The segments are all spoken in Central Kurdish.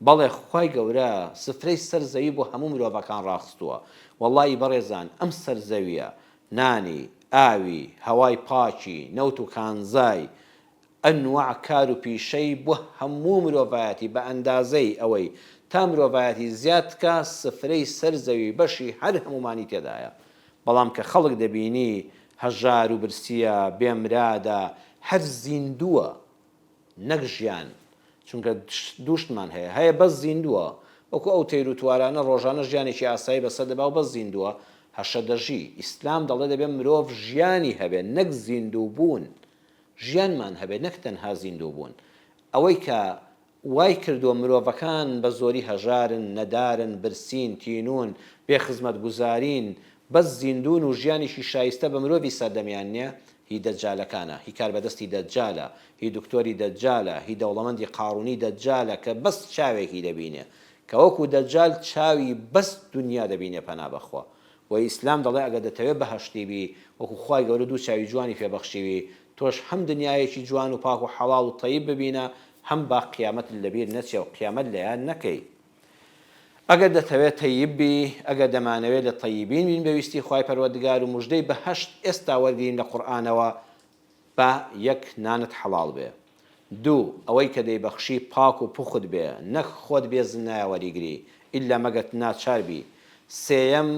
بەڵێ خوای گەورە سفرەی سەر زەوی بۆ هەموو مرۆڤەکان ڕاخستووە وەڵایی بەڕێزان ئەم سەر زەویە نانی ئاوی هەوای پاکی نەوت و کانزای ئەنواع کار و پیشەی بۆ هەموو مرۆڤایەتی بە ئەندازەی ئەوەی تا مرۆڤایەتی زیاد بکا سفرەی سەر زەوی بەشی هەر هەموومانی تێدایە بەڵام کە خەڵک دەبینی هەژار و برسیە بێ مرادە هەر زیندووە نەک ژیان چونکە دووشتمان هەیە هەیە بەس زیندووە وەکو ئەو تەیر و توارانە ڕۆژانە ژیانێکی ئاسایی بەسەر دەبا و بەس زیندووە هەشە دەژی ئیسلام دەڵێ دەبێ مرۆڤ ژیانی هەبێ نەک زیندوو بوون ژیانمان هەبێ نەک تەنها زیندوو بوون ئەوەی کە وای کردووە مرۆڤەکان بە زۆری هەژارن نەدارن برسین تینوون بێ خزمەتگوزارین بەس زیندوون و ژیانێکی شایستە بە مرۆڤی سەردەمیان نیە هی دەجالەکانە، هی کاربەدەستی دەجالە، هی دکتۆری دەجالە، هی دەوڵەمەندی قاڕوونی دەجالە کە بەس چاوێکی دەبینێ کە وەکو دەجال چاوی بەس دونیا دەبینێ پەنا بەخوا وە ئیسلام دەڵێ ئەگەر دەتەوێ بەهەشتی بی وەکو خوای گەورە دوو چاوی جوانی پێ بەخشیوی تۆش هەم دنیایەکی جوان و پاک و حەڵاڵ و تەیب ببینە هەم با قیامەتت لەبیر نەچێ و قیامەت لەیاد نەکەی. ئەگەر دەتەوێت تەیب بی، ئەگەر دەمانەوێت لە تەیبین بین بە ویستی خوای پەروەردگار و موژدەی بەهەشت ئێستا وەرگرین لە قورئانەوە، با یەک نانت حەڵاڵ بێ. دوو، ئەوەی کە دەیبەخشی پاک و پوخت بێ، نەک خۆت بێ زنایە وەریگری، ئیلا مەگەرت ناچار بی. سێیەم،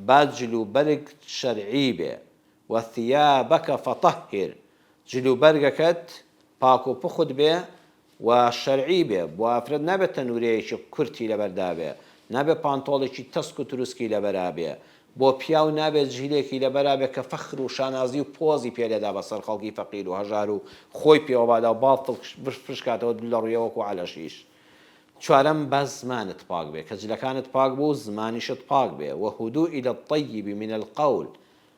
با جل و بەرگ شەرعی بێ، و ثیابک فطهر، جل و بەرگەکەت پاک و پوخت بێ، و شەرعی بێ بۆ ئافرەت نابێ تەنورەیەکی کورتی لەبەردابێ نابێ پانتۆڵێکی تەسک و تروسکی لەبەرابێ بۆ پیاو نابێ جلێکی لەبەرابێ کە فەخر و شانازی و پۆزی پێ لێدا بەسەر خەڵکی فەقیر و هەژار و خۆی پێوە بادا و باڵ بشکاتەوە دوو لەڕویە وەکو عەلەشیش چوارەم با زمانت پاک بێ کە جلەکانت پاک بوو زمانیشت پاک بێ وهدوء الطیب من القول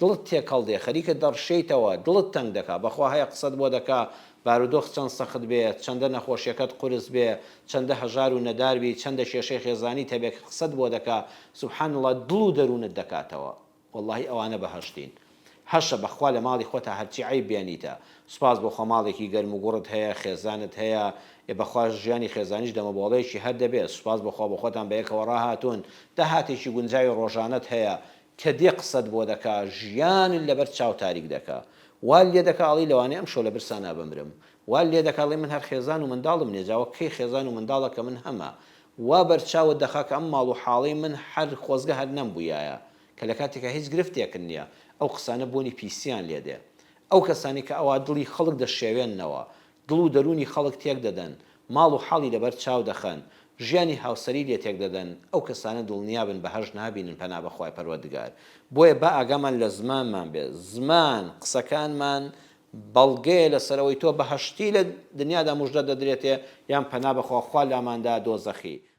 دڵت تێکەڵ دێ خەریکە دەڕشێیتەوە دڵت تەنگ دەکا بەخوا هەیە قسەت بۆ دەکا بارودۆخ چەند سەخت بێ چەندە نەخۆشیەکەت قورس بێ چەندە هەژار و نەدار بی چەندە کێشەی خێزانیت هەبێ کە قسەت بۆ دەکا سبحان اللە دڵ و دەروونت دەکاتەوە وەڵاهی ئەوانە بەهەشتین هەشە بەخوا لە ماڵی خۆتا هەرچی عەیب بێنیتە سوپاس بۆخوا ماڵێکی گەرم و گوڕت هەیە خێزانت هەیە ئێ بەخوا ژیانی خێزانیش دەمەبۆڵەیەکی هەر دەبێ سوپاس بەخوا بۆخۆتان بەیەکەوە ڕاهاتوون داهاتێکی گونجاوی ڕۆژانەت هەیە کە دێ قسەت بۆ دەکا ژیانت لەبەر چاو تاریک دەکا وال لێ دەکا ئەڵی لەوانەیە ئەمشەو لە برسانا بمرم وال لێ دەکا ئەڵی من هەر خێزان و منداڵم نیە جا وەک کەی خێزان و منداڵە کە من هەمە وا بەر چاوت دەخا کە ئەم ماڵ و حاڵی من هەر خۆزگە هەر نەمبویایە کە لە کاتێکا هیچ گرفتێکت نیە ئەو قسانە بۆنی پیسیان لێ دێ ئەو کەسانەی کە ئەوا دڵی خەڵک دەشێوێننەوە دڵ و دەروونی خەڵک تێک دەدەن، ماڵ و حاڵی لەبەر چاو دەخەن، ژیانی هاوسەری لێ تێک دەدەن، ئەو کەسانە دڵنیابن بەهەشت نابینن پەنا بە خوای پەروەردگار، بۆیە با ئاگامان لە زمانمان بێت، زمان، قسەکانمان بەڵگەیە لەسەر ئەوەی تۆ بەهەشتی لە دنیادا موژدەت دەدرێتێ یان پەنا بەخوا خوا لاماندا دۆزەخی،